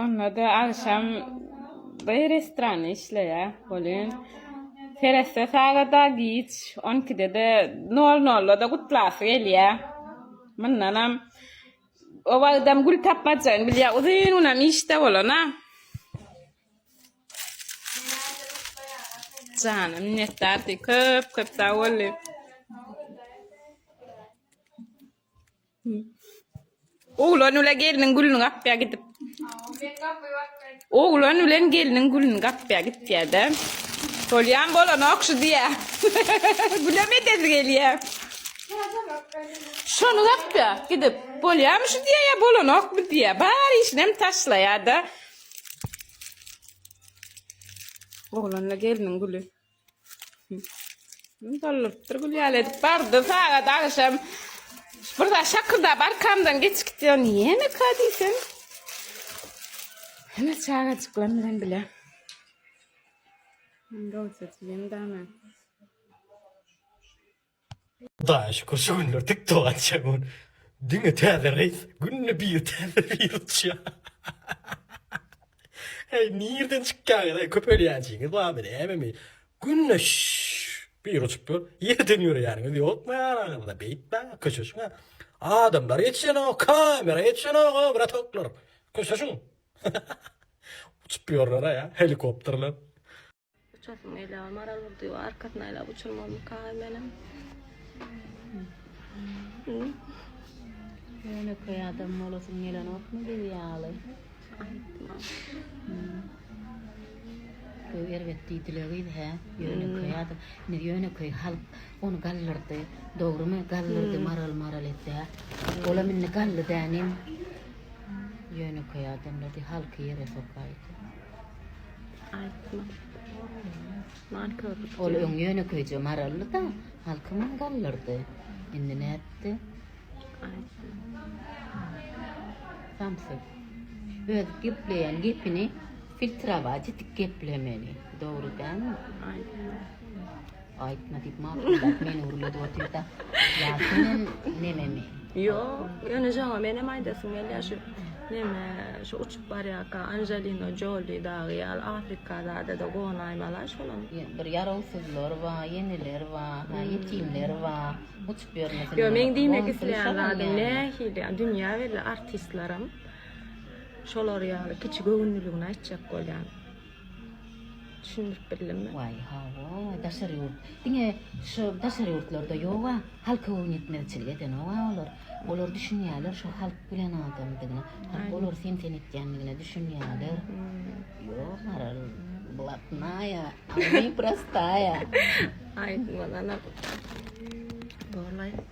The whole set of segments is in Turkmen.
Onda-da agşam bir restoran işleýär. Welin, seretse sagada giç, on ikide-de, nol-nolda-da gutlasy gelýär. Mundanam o wagtam gül tapmajygyny bilýär, uzyn günem işde bolan-a. Jana minnetdar diý, köp-köp sag bol diý. Oglan ule gelniň gülüni gapýa gidip. Oglan bilen gelniň gülüni gapýa gitýä-de. Bolýan bolanok şu diýä. Gülem edesi gelýä. Şony gapýa gidip. Bolýamy şu diýä ýa bolanokmy diýä. Bar işinem taşlaýa-da. Oglanla gelniň güli. Dolupdyr gülýäl edip bardy sagat agşam. Bir zat şakylda barkamdan geçip gitýär. Näme ka diýsem. Hene çagajyklar bilen bile. Indi olsa diýen dana. Hudaýa şükür şu günler tik tugança gün diňe täze reýs günde bir täze bir uçýar. Heý nirden çykýaňyz heý köpelýänçiňiz barmy nämemi günde bir uçup ýör ýerden ýöreýäniňiz ýokmy araňyzda beýtmäň köşeşiň adamlar ýetişenok kamera ýetişenok o bratoklar köşeşiň uçup ýörler a ýa helikopterler. Uçasymy gelýär, Maral bir diýip arkasyny aýlap uçurmazmyka menem. Ýönekeý adam bolasyň gelenokmy biz ýaly? Aýtma. Köp erbet diýdiler gyz hä? Ýönekeý adam. Indi ýönekeý halk ony galdyrdy. Dogrumy? Galdyrdy maral maral etdi. Olam indi galdy dänim. Ýönekeý adamlar diý halky ýere sokaýdy. Ol öň ýönekeýje maraldy-da, halkymam galdyrdy. Indi nätdi? Samsyk. Öz gepleýän gepini filtrować edip geplemeli. Dogry dälmi? Aýtma diýip makullap meni gürledip otyrda. Ýa senem nememi? Ýok, ýöne joňa menem aýdasym gelýär şu neme şu uçup barýarka Angelina Jolie dagy ýaly Afrika zada-da gonaýmala şolam. Bir ýarawsyzlar bar, ýeneler bar, ha ýetimler bar. Uçup ýörmesin. Ýok, meň diýmek isleýän zadym nähili ýa dünýä belli artistlerim şolar ýaly kiçi göwünliligini aýtjak bolýan. Düşündirip bildim. Waý hawa daşary ýurt diňe şu daşary ýurtlarda ýoga halka boýun ýetmezçilik edenoga olar olar düşünýäler şu halk bilen adamdygyna halk olar sen sen etýändigine düşünýäler ýok maral blatnaýa a my prostaýa aýdym bolanok borlaý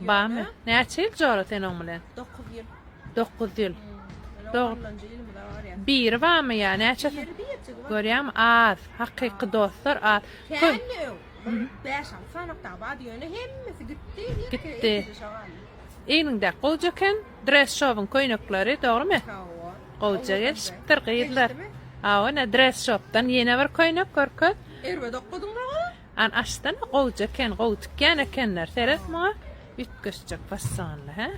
Barmy? Näçe ýyl jora sen oň bilen? Dokuz ýyl. Dokuz ýyl. Biri barmy ýa näçesi? Görýämi? Az. Hakyky dostlar az. Kendi öň. Bäş al. Sanakda bady ýöne hemmesi gitdi. Gitdi. Eýninde gowja eken. Dress shopyň köýnekleri, dogrymy? Gowja gelşipdir gyzlar. Awa, ne dress shopdan ýene bir köýnek görke. Erbe dokduň An açsana gowja eken gowy tikýän ekenler seret muňa üýtgeşjek fasonly hä.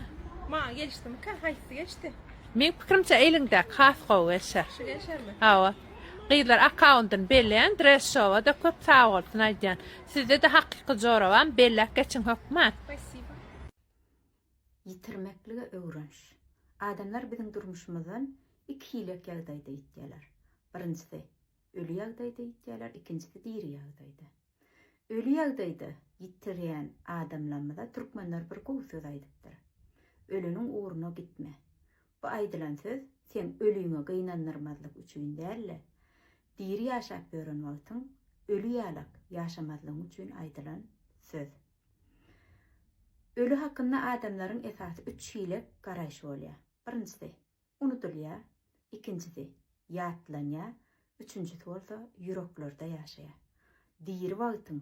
Maňa gelişdimikä haýsy geçdi. Meň pikirimçe eliňdäki has gowy gelşer. Şu gelşermi? Hawa. Gyzlar akkaundyny belleýän dress showa-da köp sagbolsun aýdýan. Sizde-de hakyky jorabam belläp geçiň hökman. Spasiba. Ýitirmeklige öwreniş. Adamlar biziň durmuşymyzdan iki hilek ýagdaýda ýitýärler. Birinjisi. Öli ýagdaýda ýitýärler, ikinjisi diri ýagdaýda. Öli ýagdaýda ýitirýän adamlarymyza türkmenler bir gowy söz aýdypdyr. Öleniň ugruna gitme. Bu aýdylan söz seň öliňi gynandyrmazlyk üçin däl-de, diri ýaşap ýören wagtyň öli ýalak ýaşamazlygyň üçin aýdylan söz. Öli hakynda adamlaryň esasy üç hile garaýşy bolýar. Birinjisi, Unudylýar, ikinjisi, ýatlanýar, üçünjisi bolsa ýüreklerde ýaşaýar. Diri wagtyň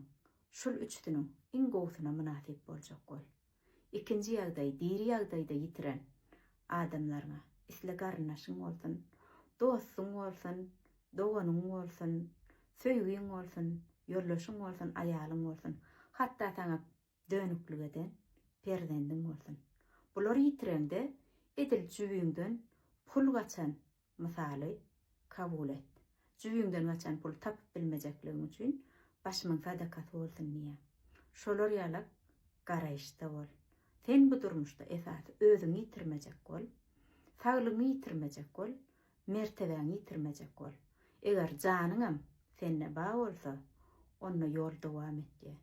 şul üçüsiniň iň gowusyna mynasyp boljak bol. Ikinji ýagdaý diri ýagdaýda ýitiren adamlaryňa, isle garyndaşyň bolsun, dostuň bolsun, doganyň bolsun, söýgiň bolsun, ýoldaşyň bolsun, aýalyň bolsun, hatda saňa Dönüklik eden perzendiň bolsun. Bulary ýitireňde edil jübiňden pul gaçan mysaly kabul et. Jübiňden gaçan puly tapyp bilmejekligiň üçin başymyň sadakasy bolsun diýýä. Şolar ýala garaýyşda bol. Sen bu durmuşda esasy özüňi ýitirmejek bol. Saglygyňy ýitirmejek bol. Mertebäňi ýitirmejek bol. Eger janyňam sende ba bolsa, onda ýol dowam etýä.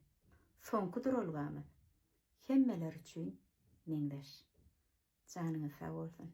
Soňky duralgamyz hemmeler üçin meňzeş. Janyňyz sag bolsun.